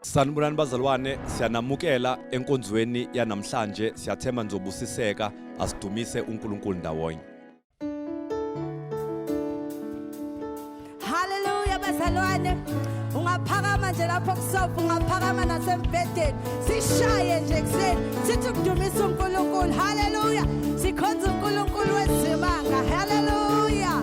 Sanibulani bazalwane, siyanamukela enkonzweni yanamhlanje. Siyathemba nizobusiseka, asidumise uNkulunkulu ndawonye. Hallelujah bazalwane. Ungaphakama nje lapho kusofa, ungaphakama nasembhedeni. Sishaye nje kuseni, sithi ukudumisa uNkulunkulu. Hallelujah. Sikhonza uNkulunkulu wezimanga. Hallelujah.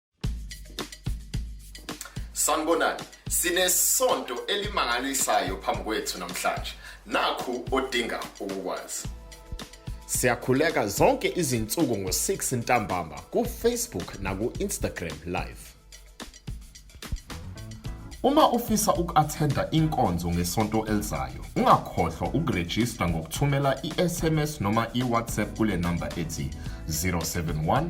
Sanibonani. Sinesonto elimangalisayo phambi kwethu namhlanje. Nakhu odinga ukukwazi. Siyakhuleka zonke izinsuku ngo-6 ntambama ku-Facebook naku-Instagram live. Uma ufisa uku-athenda inkonzo ngesonto elizayo, ungakhohlwa ukurejista ngokuthumela i-SMS noma i-WhatsApp kule namba ethi 071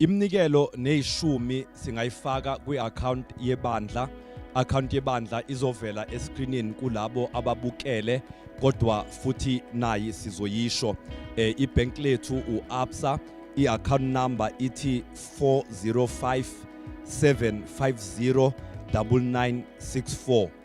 Iminikelo nezishumi singayifaka kwi-account yebandla. Account yebandla izovela escreenini kulabo ababukele kodwa futhi nayi sizoyisho eh, ibank lethu uAbsa i-account number ithi 405 750 9964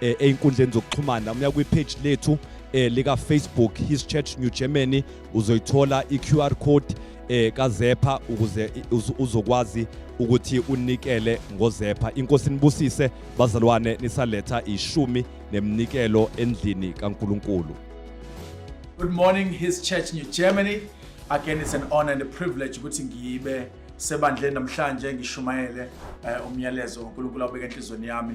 eh, einkundleni zokuxhumana uya kwi page lethu eh, lika Facebook His Church New Germany uzoyithola i QR code eh kazepha ukuze uzokwazi ukuthi unikele ngozepha inkosi nibusise bazalwane nisaletha ishumi nemnikelo endlini kaNkuluNkulu Good morning His Church New Germany again it's an honor and a privilege ukuthi ngibe sebandleni namhlanje ngishumayele eh, umyalezo uNkulunkulu awubeke enhlizweni yami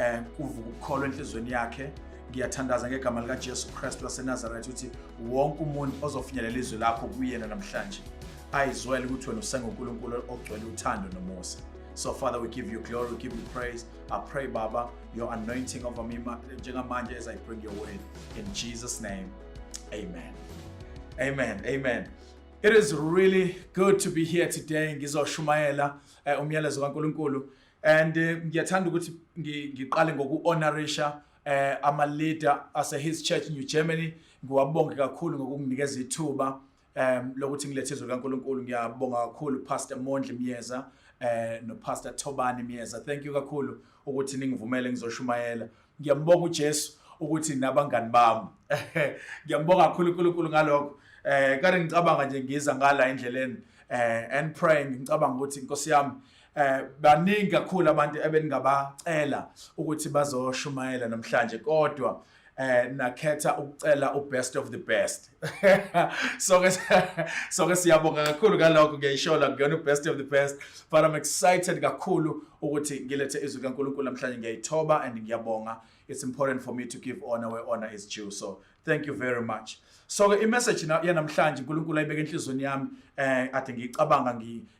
eh kuvuka ukukholwa enhlizweni yakhe ngiyathandaza ngegama lika Jesu Christ waseNazareth uthi wonke umuntu ozofinyelela izwi lakho kuyena namhlanje ayizwele ukuthi wena usenguNkulunkulu ogcwele uthando nomusa So, Father, we give you glory, we give you praise. I pray, Baba, your anointing over me, Jengamanja, as I bring your word. In Jesus' name, amen. Amen. Amen. It is really good to be here today. Ngizoshumayela eh, umyalezo kaNkuluNkulu and eh, ngiyathanda ukuthi ngiqale ngoku-honorisha eh ama-leader ase-his church new germany ngiwabonge kakhulu ngokunginikeza ithuba um lokuthi ngilethe izwi likankulunkulu ngiyabonga kakhulu pastor mondli myeza eh no pastor thobani myeza thank you kakhulu ukuthi ningivumele ngizoshumayela Ngiyambonga uJesu ukuthi nabangani bami. Ngiyambonga kakhulu uNkulunkulu ngalokho. Eh kade ngicabanga nje ngiza ngala endleleni eh and praying ngicabanga ukuthi inkosi yami eh baningi kakhulu abantu ebeningabacela ukuthi bazoshumayela namhlanje kodwa eh nakhetha ukucela ubest of the best sonke sonke siyabonga kakhulu ngalokho ngiyayishola ngiyona best of the best but i'm excited kakhulu ukuthi ngilethe izwi kaNkulunkulu namhlanje ngiyayithoba and ngiyabonga it's important for me to give honor where honor is due so thank you very much so ke imessage yanamhlanje uNkulunkulu ayibeke enhlizweni yami eh ade ngicabanga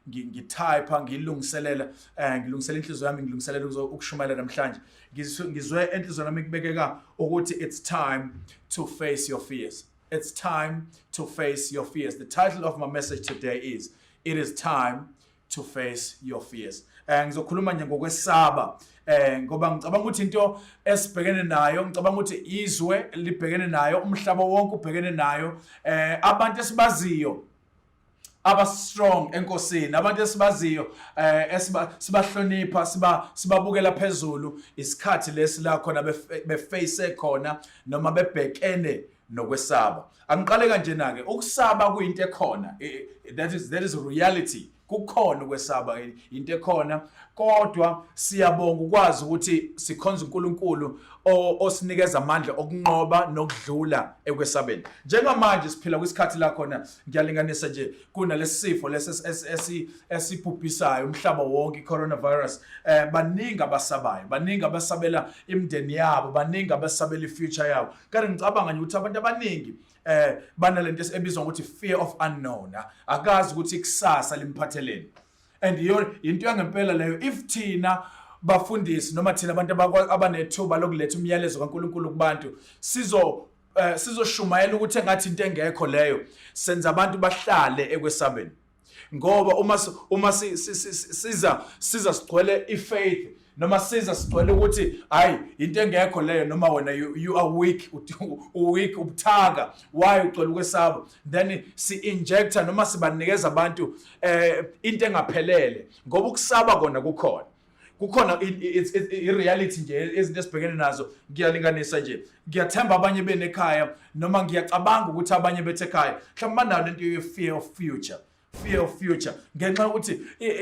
ngitype ngilungiselela eh ngilungisela inhliziyo yami ngilungiselela ukushumayela namhlanje Ngizwe ngizwe enhlizweni yami kubekeka ukuthi it's time to face your fears. It's time to face your fears. The title of my message today is It is time to face your fears. Eh ngizokhuluma nje ngokwesaba eh ngoba ngicabanga ukuthi into esibhekene nayo ngicabanga ukuthi izwe libhekene nayo umhlaba wonke ubhekene nayo eh abantu esibaziyo aba strong enkosini abantu esibaziyo eh esiba sibahlonipha siba sibabukela phezulu isikhathi lesi la khona beface khona noma bebhekene nokwesaba angiqale kanje nake ukusaba kuyinto ekhona that is that is reality kukhona ukwesaba into ekhona kodwa siyabonga ukwazi ukuthi sikhonza uNkulunkulu osinikeza amandla okunqoba nokudlula ekwesabeni njengamanje siphila kwisikhathi la khona ngiyalinganisa nje kunalesifo lesi esibhubhisayo umhlaba wonke coronavirus eh baningi abasabayo baningi abasabela imndeni yabo baningi abasabela ifuture yabo kanti ngicabanga nje ukuthi abantu abaningi eh banalento ebizwa ngokuthi fear of unknown ah, akazi ukuthi ikusasa limphatheleni and iyo into yangempela leyo if thina bafundisi noma thina abantu abanethuba lokuletha umyalezo kaNkuluNkulu kubantu sizo eh, sizoshumayela ukuthi engathi into engekho leyo senza abantu bahlale ekwesabeni ngoba uma uma siza siza sigcwele ifaith noma siza sigcwele ukuthi hayi into engekho leyo noma wena you, you are weak uweak ubuthaka why ucela ukwesaba then si injector noma sibanikeza abantu eh into engaphelele ngoba ukusaba kona kukhona kukhona i-reality nje ezinto esibhekene nazo ngiyalinganisa nje ngiyathemba abanye benekhaya noma ngiyacabanga ukuthi abanye bethe ekhaya mhlawumbe banayo lento ye-fear of future fear of future ngenxa yokuthi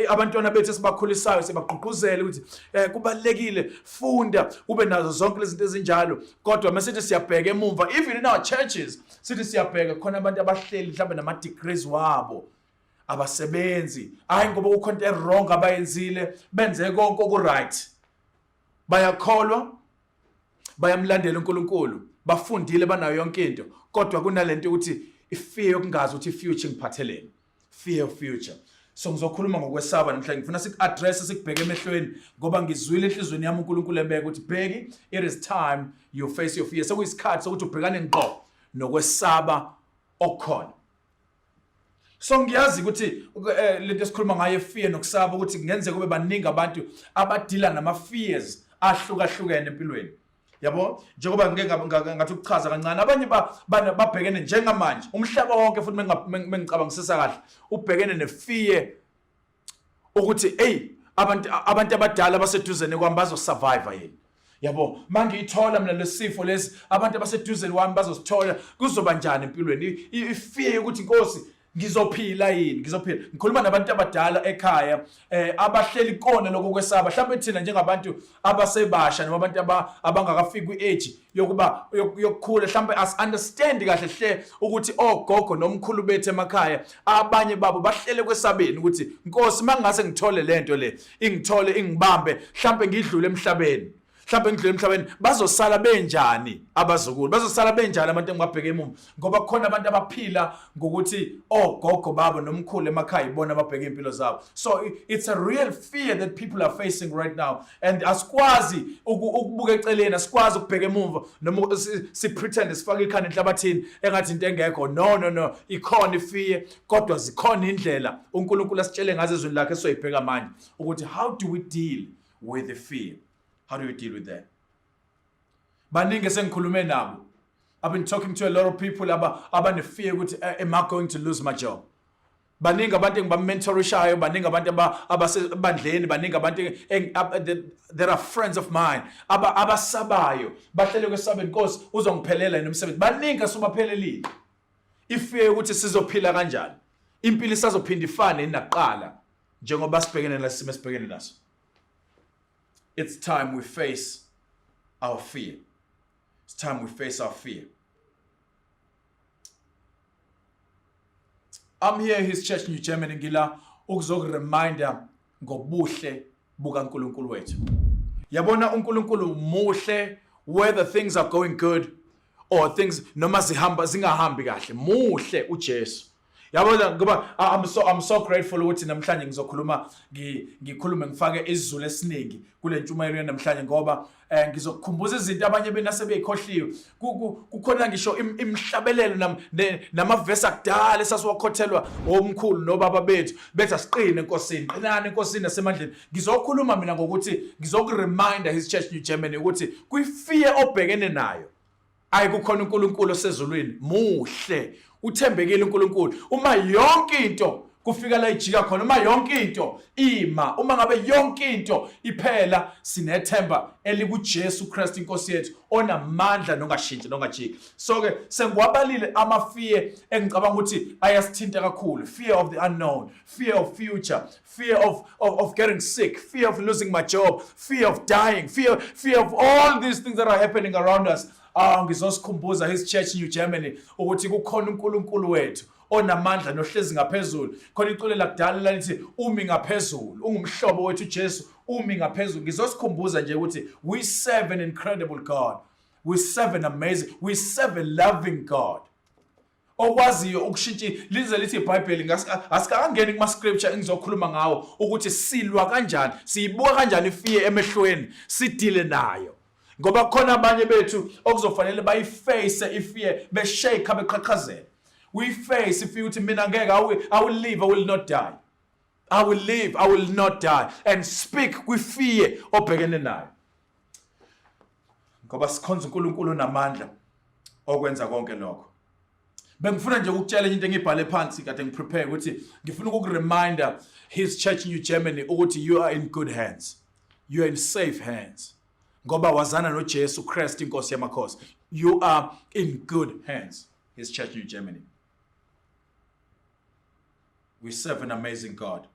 abantwana bethu esibakhulisayo sibagqugquzele ukuthi um kubalulekile funda ube nazo zonke lezinto ezinjalo kodwa uma sithi siyabheka emumva even in our churches sithi siyabheka khona abantu abahleli mhlawumbe nama-degrees wabo abasebenzi hayi ngoba kukho into ewrong abayenzile benze konke okuright bayakholwa bayamlandela uNkulunkulu bafundile banayo yonke into kodwa kunalento ukuthi ifear yokungazi ukuthi future ngiphatheleni fear of future so ngizokhuluma ngokwesaba namhlanje ngifuna siku-address sikubheke emehlweni ngoba ngizwile enhlizweni yami unkulunkulu ebeke ukuthi bheki it is time you face your fear sekuyisikhathi sokuthi ubhekane ngqo nokwesaba okukhona so ngiyazi ukuthi eh, lento esikhuluma ngayo fear nokusaba ukuthi kungenzeka kube baningi abantu abadila nama fears ahlukahlukene empilweni yabo njengoba ngike ngathi ukuchaza kancane abanye babhekene njengamanje umhlaba wonke futhi mengicabangisisa kahle ubhekene nefear ukuthi eyi abantu abantu abadala abaseduzane kwami bazosurvive yini yabo mangiyithola mina lesifo lesi abantu abaseduzane kwami bazosithola kuzoba njani empilweni ifear yokuthi inkosi ngizophila yini ngizophila ngikhuluma nabantu abadala ekhaya eh abahleli kona lokho kwesaba mhlawumbe thina njengabantu abasebasha noma abantu abangakafiki kwi-age yokuba yokukhula mhlawumbe asi-understand kahle hle ukuthi ogogo nomkhulu bethu emakhaya abanye babo bahlele kwesabeni ukuthi nkosi uma ngingase ngithole le nto le ingithole ingibambe mhlawumbe ngidlule emhlabeni mhlawumbe ngidlule emhlabeni bazosala benjani abazukulu bazosala benjani abantu engibabheke emuva ngoba kukhona abantu abaphila ngokuthi ogogo oh, babo nomkhulu emakhaya ibona ababheke impilo zabo so it's a real fear that people are facing right now and asikwazi ukubuka eceleni asikwazi ukubheka emuva noma si pretend sifaka ikhanda enhlabathini engathi into engekho no no no ikhona ifear kodwa zikhona indlela uNkulunkulu asitshele ngazo ezweni lakhe soyibheka manje ukuthi how do we deal with the fear how do we deal with that baningi esengikhulume nabo I've been talking to a lot of people aba abanefear ukuthi eh, am I going to lose my job baningi abantu engibamentorishayo baningi abantu abasebandleni baningi abantu there are friends of mine aba abasabayo bahlele kwesabeni inkosi uzongiphelela yini umsebenzi baningi asubaphelelile ifear ukuthi sizophila kanjani impilo isazophinda ifane nakuqala njengoba sibhekene nesimo esibhekene naso It's time we face our fear. It's time we face our fear. I'm here his church New Germany ngila ukuzokureminder ngobuhle bukaNkulunkulu wethu. Yabona uNkulunkulu muhle whether things are going good or things noma zihamba zingahambi kahle. Muhle uJesu. yabona ngoba ah, I'm so I'm so grateful ukuthi namhlanje ngizokhuluma ngikhulume ngifake isizulu esiningi kule ntshumayelo yanamhlanje ngoba eh ngizokukhumbuza izinto abanye benase beyikhohliwe kukhona ngisho imhlabelelo namavesi akudala esasiwakhothelwa omkhulu nobaba bethu bethi asiqine enkosini qinani enkosini nasemandleni ngizokhuluma mina ngokuthi ngizokureminder his church new germany ukuthi kwi fear obhekene nayo Ayi kukhona uNkulunkulu osezulwini muhle uthembekile uNkulunkulu uma yonke into kufika la ijika khona uma yonke into ima uma ngabe yonke into iphela sinethemba elikuJesu Christ inkosi yethu onamandla nongashintshi nongajiki so ke sengiwabalile ama fear engicabanga ukuthi ayasithinta kakhulu fear of the unknown fear of future fear of, of, of getting sick, fear of losing my job, fear of dying, fear, fear of all these things that are happening around us. Ah, ngizosikhumbuza his church New Germany ukuthi kukhona uNkulunkulu wethu onamandla nohlezi ngaphezulu khona iculo lakudala lalithi umi ngaphezulu ungumhlobo wethu Jesu umi ngaphezulu ngizosikhumbuza nje ukuthi we serve an incredible God we serve an amazing we serve a loving God okwaziyo ukushintsha lize lithi iBhayibheli ngasikangeni kuma scripture engizokhuluma ngawo ukuthi silwa kanjani siyibuka kanjani ifiye emehlweni sidile nayo ngoba khona abanye bethu okuzofanele bayiface ifiye beshake beqhaqhazela uyiface ifiye ukuthi mina ngeke i will live i will not die i will live i will not die and speak kwifiye obhekene nayo ngoba sikhonza uNkulunkulu onamandla okwenza konke lokho bengifuna nje ukutshela into engibhale phansi kade ngiprepare ukuthi ngifuna ukukureminder his church new germany ukuthi you are in good hands you are in safe hands ngoba wazana nojesu kristu inkosi yamakhosi you are in good hands his church new germany we serve an amazing god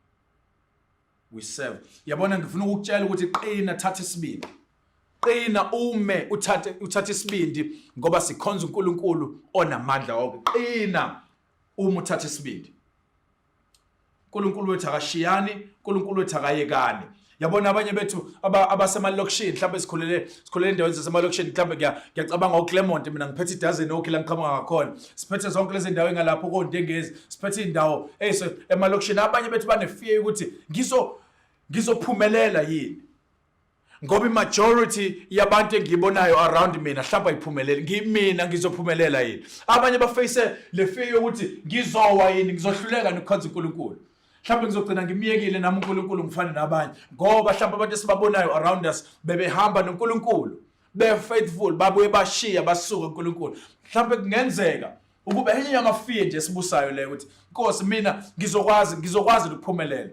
we serve yabona ngifuna ukukutshela ukuthi qina thatha isibindi qina ume uthathe uthathe isibindi ngoba sikhonza uNkulunkulu onamandla wonke qina uma uthatha isibindi uNkulunkulu wethu akashiyani uNkulunkulu wethu akayekani yabona abanye bethu abasemalokishini mhlawumbe sikhulele sikhulele endaweni zasemalokishini mhlawumbe ngiyacabanga uclermont mina ngiphethe idozen okhi la ngiqhamuka ngakhona siphethe zonke lezi ndawo engalapho kontengezi siphethe indawo eyise emalokishini abanye bethu banefear ukuthi ngizo ngizophumelela yini ngoba imajority yabantu engiyibonayo around mina hlamba iphumelele ngimina ngizophumelela yini abanye bafeyise le fear yokuthi ngizowa yini ngizohluleka nokukhonza uNkulunkulu mhlawumbe ngizogcina ngimyekile nami uNkulunkulu ngifane nabanye ngoba mhlawumbe abantu esibabonayo around us bebehamba noNkulunkulu be faithful babuye bashiya basuka uNkulunkulu mhlawumbe kungenzeka ukuba enye yamafiye nje esibusayo leyo ukuthi Nkosi mina ngizokwazi ngizokwazi ukuphumelela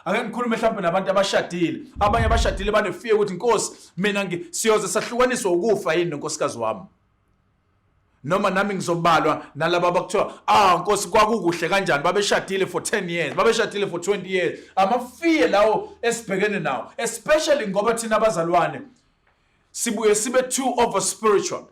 ake ngikhulume mhlawumbe nabantu abashadile abanye abashadile banefiye ukuthi Nkosi mina siyoze sahlukaniswa ukufa yini nonkosikazi wami noma nami ngizobalwa nalabo abakuthiwa ah nkosi kwakukuhle kanjani babeshadile for 10 years babeshadile for 20 years amafiye lawo esibhekene nawo especially ngoba thina abazalwane sibuye sibe too over spiritual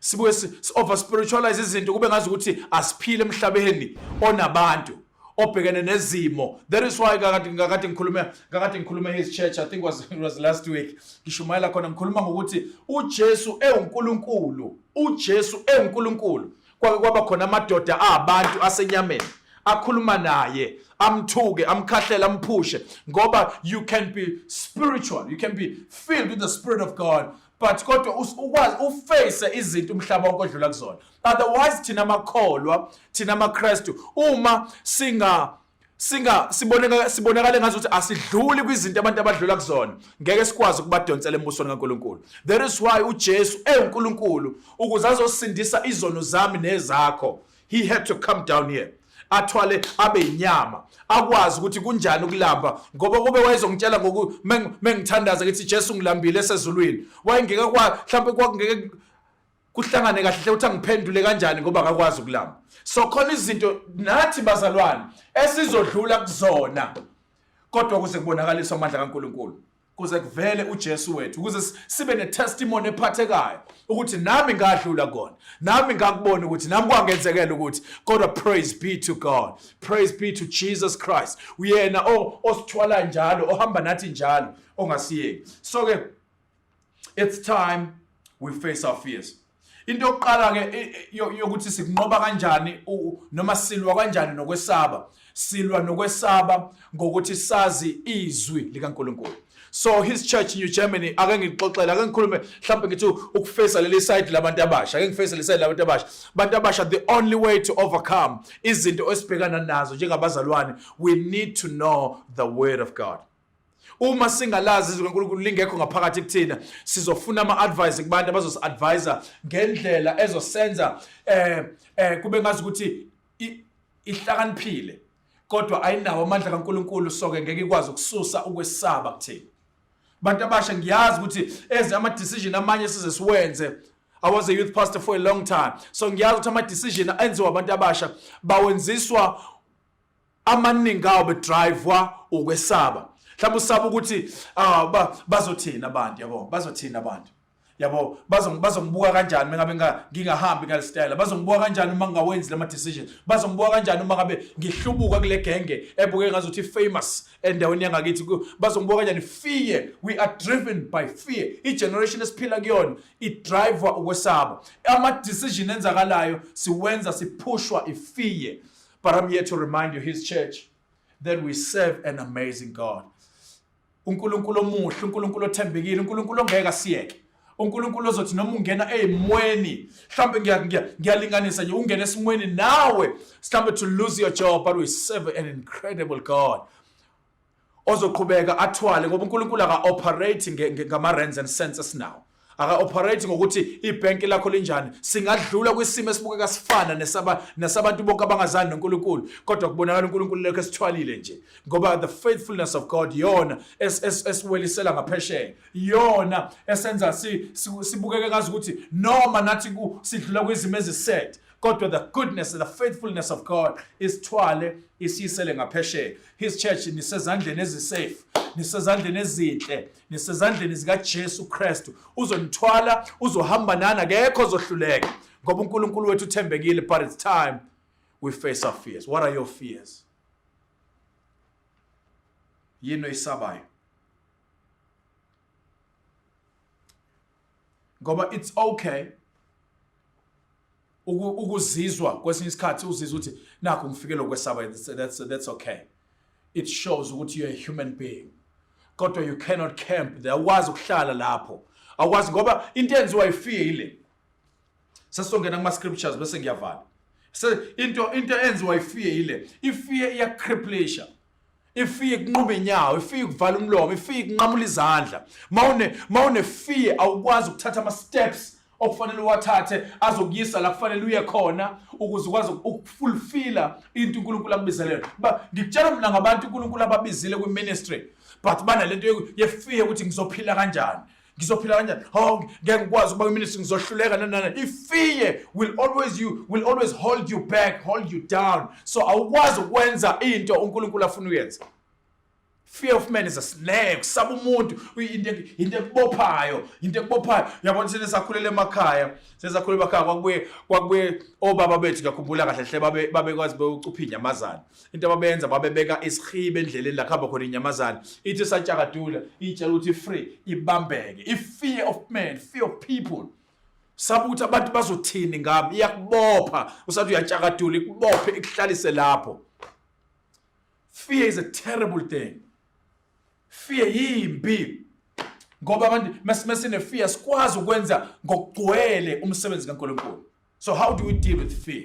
sibuye over spiritualize izinto kube ngazi ukuthi asiphile emhlabeni onabantu obhekene nezimo that is why kakade ngakade ngikhulume kakade ngikhulume his church i think was was last week ngishumayela khona ngikhuluma ngokuthi uJesu ewuNkulunkulu uJesu ewuNkulunkulu Kwake kwaba khona amadoda abantu asenyameni akhuluma naye amthuke amkhahlele amphushe ngoba you can be spiritual you can be filled with the spirit of God but kodwa ukwazi uface izinto umhlaba wonke odlula kuzona otherwise thina makholwa thina maKristu uma singa singa siboneka sibonakale ngathi ukuthi asidluli kwizinto abantu abadlula kuzona ngeke sikwazi ukubadonsela embusweni kaNkuluNkulu there is why uJesu ewuNkuluNkulu ukuze azosindisa izono zami nezakho he had to come down here athwale abe inyama akwazi ukuthi kunjani ukulamba ngoba kube wayezongitshela ngoku mengithandaza ngithi Jesu ngilambile esezulwini wayengeke kwa mhlawumbe kwakungeke kuhlangane kahle hle ukuthi angiphendule kanjani ngoba akakwazi ukulama so khona izinto nathi bazalwane esizodlula kuzona kodwa kuze kubonakaliswe amandla kaNkuluNkulu kuze kuvele uJesu wethu ukuze sibe netestimony ephathekayo ukuthi nami ngadlula kona nami ngakubona ukuthi nami kwangenzekela ukuthi kodwa praise be to God praise be to Jesus Christ uyena osithwala njalo ohamba nathi njalo ongasiyeki so ke it's time we face our fears into yokuqala ke yokuthi sikunqoba kanjani noma silwa kanjani nokwesaba silwa nokwesaba ngokuthi sazi izwi likaNkuluNkulu so his church in New Germany ake ngixoxela ake ngikhulume mhlawumbe ngithi ukufesa leli side labantu abasha ake ngifesa leli side labantu abasha abantu abasha the only way to overcome izinto esibhekana nazo njengabazalwane we need to know the word of God Uma singalazi izwi kaNkulunkulu lingekho ngaphakathi kuthina, sizofuna ama-advice kubantu abazosi-advisa ngendlela ezosenza eh eh kube ngazi ukuthi ihlakaniphile kodwa ayinawo amandla kaNkulunkulu soke ngeke ikwazi ukususa ukwesaba kuthina. Abantu abasha ngiyazi ukuthi eze ama decision amanye size siwenze I was a youth pastor for a long time so ngiyazi ukuthi ama decision enziwa abantu abasha bawenziswa amaningi awo bedrive-wa ukwesaba mhlawumbe usaba ukuthi ah, bazothini abantu yabo bazothini abantu yabo bazongibuka kanjani uma ngabe ngingahambi ngale style bazongibuka kanjani uma ngingawenzi lama decision bazongibuka kanjani uma ngabe ngihlubuka kule genge ebuke ngazuthi famous endaweni yangakithi bazongibuka kanjani fear we are driven by fear i generation esiphila kuyona i driver ukwesaba ama decision enzakalayo siwenza siphushwa i fear But I'm here to remind you, His church, that we serve an amazing God. uNkulunkulu omuhle, uNkulunkulu othembekile, uNkulunkulu ongeke asiyeke. uNkulunkulu ozothi noma ungena ezimweni, mhlawumbe ngiyalinganisa nje ungena esimweni nawe, mhlawumbe to lose your job, but we serve an incredible God. ozoqhubeka athwale ngoba uNkulunkulu aka-operate ngama-rands and senses now aka-operate ngokuthi ibhenki lakho linjani singadlula kwisimo esibukeka sifana nesabantu bonke abangazani nonkulunkulu kodwa kubonakala unkulunkulu lekho esithwalile nje ngoba the faithfulness of god yona esiwelisela ngaphesheya yona esenza sibukeke ngazi ukuthi noma nathi sidlula kwizimo eziset kodwa the goodness the faithfulness of god isithwale isiyisele ngaphesheya His church nisezandleni ezisafe nisezandleni ezinhle nisezandleni zikaJesu Kristu uzonithwala uzohamba nana kekho ozohluleka ngoba uNkulunkulu wethu uthembekile but it's time we face our fears what are your fears yini oyisabayo ngoba it's okay ukuzizwa kwesinye isikhathi uzizwa ukuthi nakho ngifikele ukwesaba that's, that's okay it shows ukuthi you're a human being kodwa you cannot camp there awukwazi ukuhlala lapho awukwazi ngoba into enziwa ifear ile sesizongena kuma-scriptures bese ngiyavala into into enziwa ifear ile ifear iyacriplisha ifike kunquma inyawo ifike kuvala umlomo ifike kunqamula izandla mawune mawune fear awukwazi ukuthatha ama steps okufanele uwathathe azokuyisa la kufanele uye khona ukuze ukwazi ukufulfilla into uNkulunkulu akubizelele ba ngikutshela mina ngabantu uNkulunkulu ababizile kwi ministry but banalento yefear ukuthi ngizophila kanjani ngizophila kanjani hawu ngeke ngikwazi ukuba kwiministry ngizohluleka nanana ifear will always you will always hold you back hold you down so awukwazi ukwenza into unkulunkulu afuna uyenze fear of man is a snake kusaba umuntu into into ekubophayo into ekubophayo yabona sene sakhulele emakhaya sesakhule emakhaya kwakubuye kwakubuye obaba bethu ngiyakhumbula kahle hle babe babekwazi bewucupha inyamazana into ababenza babebeka isihibe endleleni la khamba khona inyamazane ithi satshakadula itshela ukuthi free ibambeke i fear of man fear of people sabuthi abantu bazothini ngami iyakubopha usathi uyatshakadula ikubophe ikuhlalise lapho fear is a terrible thing fear yimbi ngoba abantu mesimesine fear sikwazi ukwenza ngokugcwele umsebenzi kaNkulunkulu so how do we deal with fear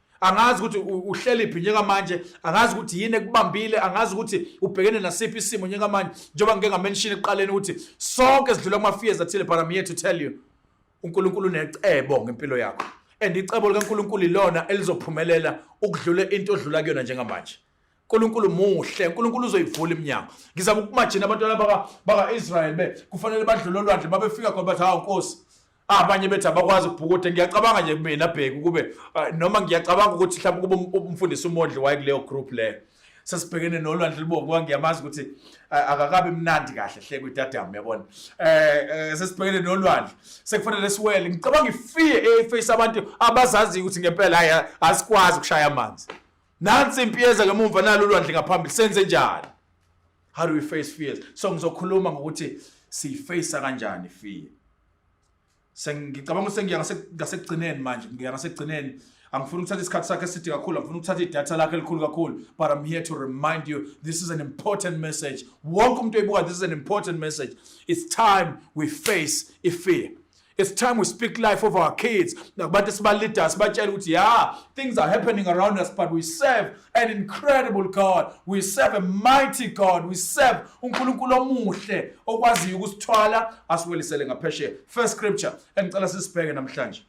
angazi ukuthi uhlelephi njengamanje angazi ukuthi yini ekubambile angazi ukuthi ubhekene nasiphi isimo njengamanje njengoba ngike ngamenshini ekuqaleni ukuthi sonke sidlula kuma-fears athile but i'm here to tell you unkulunkulu unecebo ngempilo yakho and icebo likankulunkulu ilona elizophumelela ukudlula into odlula kuyona njengamanje uNkulunkulu muhle uNkulunkulu uzoyivula iminyango ngizama ukumajina abantwana baka baka Israel be kufanele badlule olwandle babefika khona bathi hawu Nkosi abanye bethi abakwazi ukubhukuda ngiyacabanga nje kumina bheki ukube ah, noma ngiyacabanga ukuthi mhlawumbe kube um, umfundisi umondli waye kuleyo group leyo sesibhekene nolwandle libovu ngoba ngiyamazi ukuthi eh, akakabi mnandi kahle hle kwidadamu yabona eh, eh sesibhekene nolwandle sekufanele siwele ngicabanga ifiye eface abantu abazaziyo ukuthi ngempela hayi asikwazi ukushaya amanzi nansi impi yeza ngemumva nalo ulwandle ngaphambili senze njani how do we face fears so ngizokhuluma ngokuthi siyiface kanjani fear sengicabanga ukuthi sengiya ngasekugcineni manje ngiya ngasekugcineni angifuni ukuthatha isikhathi sakhe eside kakhulu angifuni ukuthatha idatha lakhe elikhulu kakhulu but i'm here to remind you this is an important message wonke umuntu oyibuka this is an important message it's time we face ifear It's time we speak life of our kids. Nakubantu esibalida sibatshela ukuthi yeah, things are happening around us but we serve an incredible God. We serve a mighty God. We serve uNkulunkulu omuhle okwaziyo ukusithwala asiwelisele ngaphesheya. First scripture engicela sisibheke namhlanje.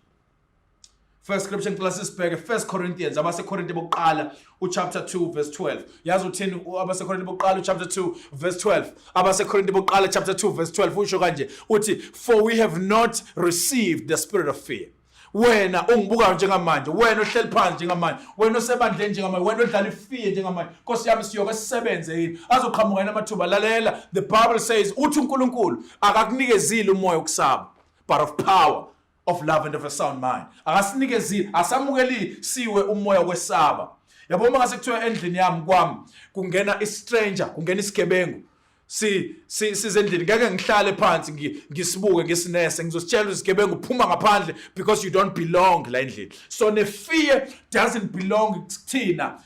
First scripture ngicela sisibheke First Corinthians abaseKorinte bokuqala uchapter 2 verse 12. Yazi uthini abaseKorinte bokuqala uchapter 2 verse 12. AbaseKorinte bokuqala chapter 2 verse 12 usho kanje uthi for we have not received the spirit of fear wena ongibukayo njengamanje wena ohleli phansi njengamanje wena osebandleni njengamanje wena odlala ifiye njengamanje nkosi yami siyoke sisebenze yini azoqhamuka yini amathuba lalela the bible says uthi unkulunkulu akakunikezile umoya wokusaba but of power of love and of a sound mind akasinikezile asamukelile siwe umoya kwesaba yabo uma ngase kuthiwa endlini yami kwami kungena istranger kungena isigebengu si sizendlini ngeke ngihlale phansi ngisibuke ngisinese ngizositshela izigebengu phuma ngaphandle because you don't belong la endlini so ne fear doesn't belong kuthina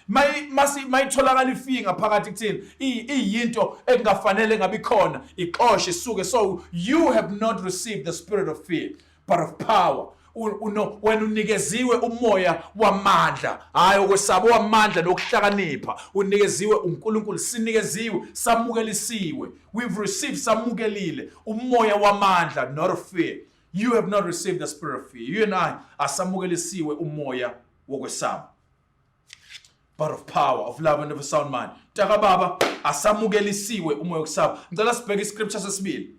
mayitholakala ifear ngaphakathi kuthina iyinto ekungafanele ngabe ikhona ixoshe isuke so you have not received the spirit of fear but of power uno wena unikeziwe umoya wamandla hayi okwesaba wamandla nokuhlakanipha unikeziwe uNkulunkulu sinikeziwe samukelisiwe we've received samukelile umoya wamandla not of fear You have not received the spirit of fear. You and I asamukelisiwe umoya wokwesaba. But of power, of love and of a sound mind. Taka baba asamukelisiwe umoya wokusaba. Ngicela sibheke iscripture sesibili.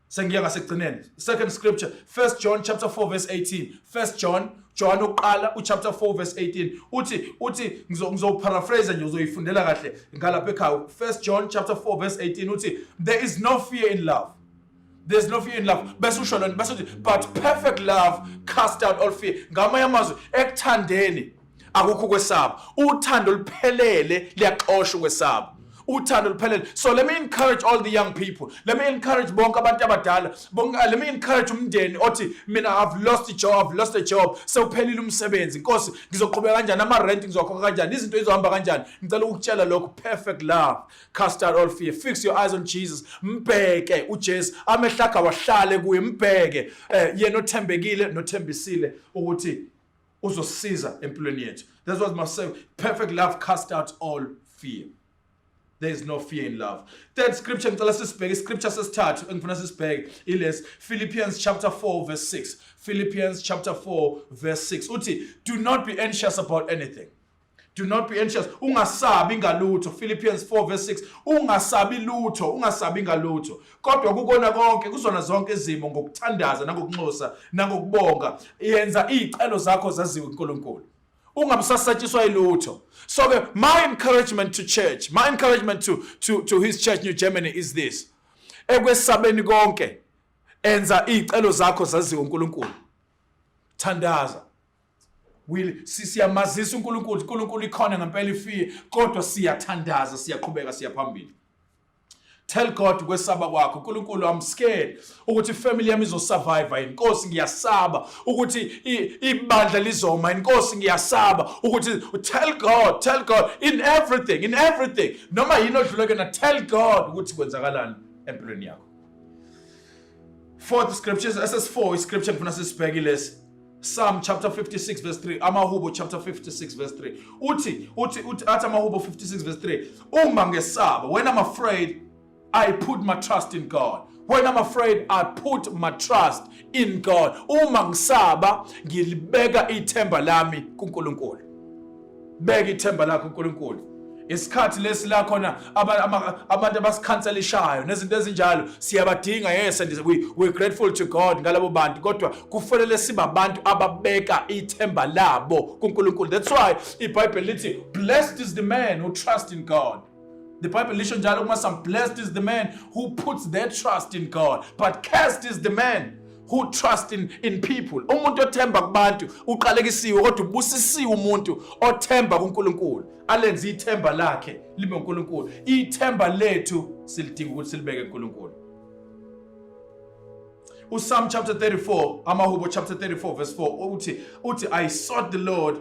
Sengiya ngasekugcineni. Second scripture, 1 John chapter 4 verse 18. 1 John John uqala uchapter 4 verse 18 uthi uthi ngizopharaphrase nje uzoyifundela kahle ngalapha ekhaya 1 John chapter 4 verse 18 uthi there is no fear in love there's no fear in love bese usho lento bese uthi but perfect love cast out all fear ngamanye amazwi ekuthandeni akukho ukwesaba uthando luphelele liyaxosha ukwesaba uthando luphelele so let me encourage all the young people let me encourage bonke abantu abadala bonke uh, let me encourage umndeni othi mina i've lost a job i've lost a job sewuphelile umsebenzi inkosi ngizoqhubeka kanjani ama rent ngizokhokha kanjani izinto izohamba kanjani ngicela ukutshela lokho perfect love Cast out all fear. Fix your eyes on Jesus. Mbheke uJesu. Amehlo akhe awahlale kuye. Mbheke eh, yena othembekile nothembisile ukuthi uzosiza empilweni yethu. That's what must say. Perfect love cast out all fear. There is no fear in love. Third scripture ngicela sisibheke iscripture sesithathu engifuna sisibheke iles Philippians chapter 4 verse 6. Philippians chapter 4 verse 6. Uthi do not be anxious about anything. Do not be anxious. Ungasabi ngalutho. Philippians 4 verse 6. Ungasabi lutho, ungasabi ngalutho. Kodwa kukona konke, kuzona zonke izimo ngokuthandaza nangokunxusa nangokubonga, yenza izicelo zakho zaziwe uNkulunkulu. Ungabusasatshiswa ilutho. So ke my encouragement to church, my encouragement to to to his church New Germany is this. Ekwesabeni konke, enza izicelo zakho zaziwe uNkulunkulu. Thandaza. Will siyamazisa uNkulunkulu, uNkulunkulu ikhona ngempela ifie, kodwa siyathandaza, siyaqhubeka, siyaphambili. Tell God kwesaba kwakho uNkulunkulu I'm scared ukuthi family yami izosurvive inkosi ngiyasaba ukuthi ibandla lizoma inkosi ngiyasaba ukuthi tell God tell God in everything in everything noma yini odluleke na tell God ukuthi kwenzakalani empilweni yakho Fourth scriptures SS4 iscripture ngifuna sisibheke lesi. Psalm chapter 56 verse 3 Amahubo chapter 56 verse 3 uthi uthi uthi athi Amahubo 56 verse 3 uma ngesaba when I'm afraid I put my trust in God when I'm afraid I put my trust in God uma ngisaba ngilibeka ithemba lami kuNkulunkulu beka ithemba lakho uNkulunkulu isikhathi lesi la khona abantu abasikhanselishayo nezinto ezinjalo siyabadinga yes and we, we're grateful to God ngalabo bantu kodwa kufanele sibabantu ababeka ithemba labo kuNkulunkulu that's why iBhayibheli lithi blessed is the man who trusts in God The Bible lisho njalo kuma some blessed is the man who puts their trust in God but cursed is the man who trust in, in people. Umuntu othemba kubantu uqalekisiwe kodwa ubusisiwe umuntu othemba kuNkulunkulu. Alenze ithemba lakhe libe uNkulunkulu. Ithemba lethu silidinga ukuthi silibeke kuNkulunkulu. USalm chapter 34, Amahubo chapter 34 verse 4 uthi uthi I sought the Lord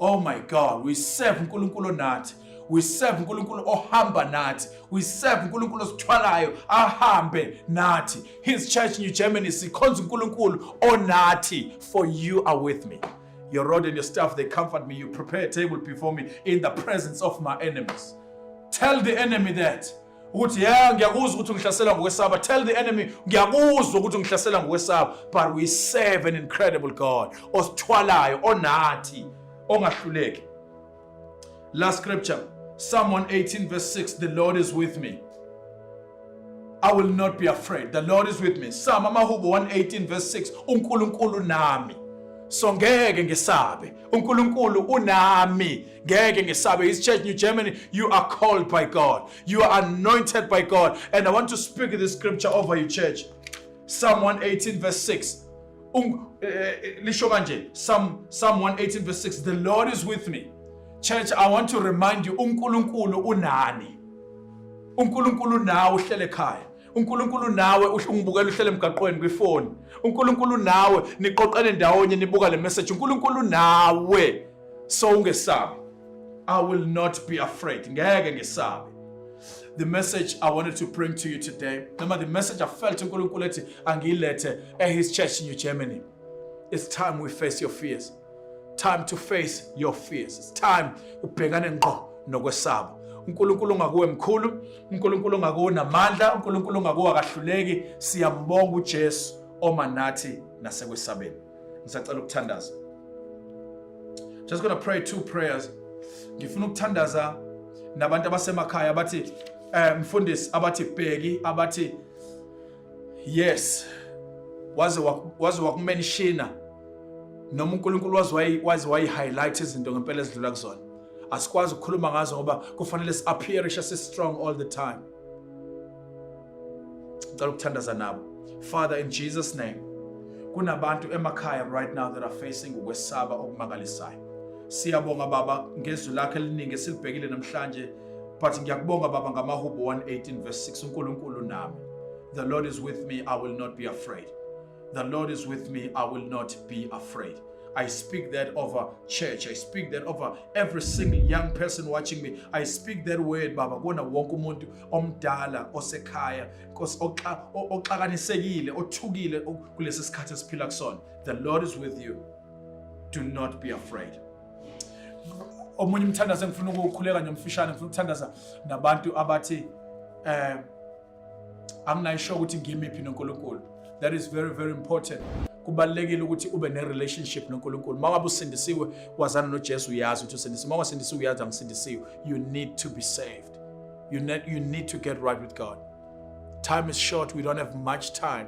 Oh my God, we serve uNkulunkulu onathi. We serve uNkulunkulu ohamba nathi. We serve uNkulunkulu osithwalayo ahambe nathi. His church New Germany sikhonza uNkulunkulu onathi. For you are with me. Your rod and your staff they comfort me. You prepare a table before me in the presence of my enemies. Tell the enemy that ukuthi ya ngiyakuzwa ukuthi ungihlasela ngokwesaba tell the enemy ngiyakuzwa ukuthi ungihlasela ngokwesaba but we serve an incredible god osithwalayo onathi ongahluleki last scripture psalm 118 verse 6 the lord is with me i will not be afraid the lord is with me psalm amahubo 118 verse 6 unkulunkulu nami so ngeke ngesabe unkulunkulu unami ngeke ngesabe his church new germany you are called by god you are anointed by god and i want to speak this scripture over your church psalm 118 verse 6 um, eh, eh, lisho kanje psalm psalm 118 verse 6 the lord is with me church i want to remind you unkulunkulu unani unkulunkulu nawe uhlele ekhaya uNkulunkulu nawe ungibukela uhlele emgaqweni kwifoni uNkulunkulu nawe niqoqene ndawonye nibuka le message uNkulunkulu nawe so ungesabi I will not be afraid ngeke ngesabe the message I wanted to bring to you today noma the message I felt uNkulunkulu ethi angiyilethe at his church in New Germany it's time we face your fears time to face your fears it's time ubhekane ngqo nokwesaba uNkulunkulu ongakuwe mkhulu uNkulunkulu ongakuwe unamandla uNkulunkulu ongakuwe akahluleki siyambonga uJesu oma nathi nasekwesabeni ngisacela ukuthandaza just gonna pray two prayers ngifuna ukuthandaza nabantu abasemakhaya abathi eh mfundisi abathi bheki abathi Yes. Waze waze wakumenshina noma uNkulunkulu waze waze wayi highlight izinto ngempela ezidlula kuzona. Asikwazi ukukhuluma ngazo ngoba kufanele si appear si strong all the time. Ngicela ukuthandaza nabo. Father in Jesus name. Kunabantu emakhaya right now that are facing ukwesaba okumangalisayo. Siyabonga baba ngezwi lakhe eliningi silibhekile namhlanje But ngiyakubonga baba ngamaHubo 118 verse 6 uNkulunkulu nami. The Lord is with me, I will not be afraid. The Lord is with me, I will not be afraid. I speak that over church. I speak that over every single young person watching me. I speak that word baba kona wonke umuntu omdala osekhaya Nkosi oxakanisekile othukile kulesi sikhathi esiphila kusona. The Lord is with you. Do not be afraid. omunye umthandazo engifuna ukuwukhuleka nje mfishane ngifuna ukuthandaza nabantu abathi eh anginayisho ukuthi ngimiphi noNkulunkulu that is very very important kubalekile ukuthi ube ne relationship noNkulunkulu mawaba usindisiwe wazana noJesu uyazi ukuthi usindisiwe mawa sindisiwe uyazi angisindisiwe you need to be saved you need you need to get right with God time is short we don't have much time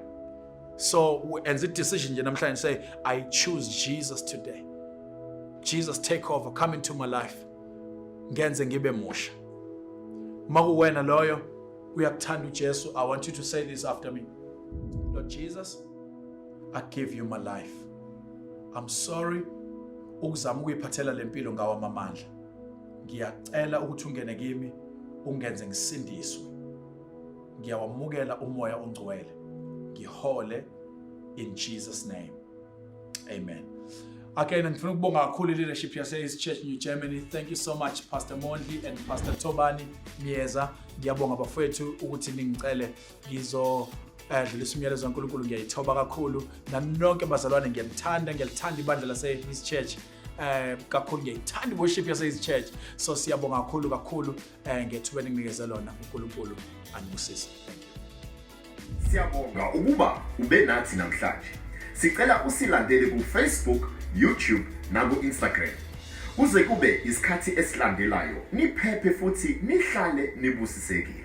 So and the decision nje namhlanje say I choose Jesus today. Jesus take over come into my life. Ngenze ngibe musha. Makuwena loyo uyakuthanda uJesu I want you to say this after me. Lord Jesus I give you my life. I'm sorry ukuzama ukuyiphathela lempilo ngawa amandla. Ngiyacela ukuthi ungene kimi ungenze ngisindiswe. ngiyawamukela umoya ongcwele ngihole in Jesus name amen Again, ngifuna ukubonga kakhulu leadership yase East Church New Germany. Thank you so much Pastor Mondli and Pastor Tobani Myeza. Ngiyabonga bafowethu ukuthi ningicele ngizo dlulisa umyalezo kaNkulunkulu ngiyayithoba kakhulu nami nonke bazalwane ngiyalithanda ngiyalithanda ibandla lase East Church eh kakhulu ngiyayithanda worship yase East Church so siyabonga kakhulu kakhulu um ngethuba elinginikeze lona unkulunkulu anibusise thank you siyabonga ukuba ube nathi namhlanje sicela usilandele kufacebook youtube naku-instagram kuze kube isikhathi esilandelayo niphephe futhi nihlale nibusisekile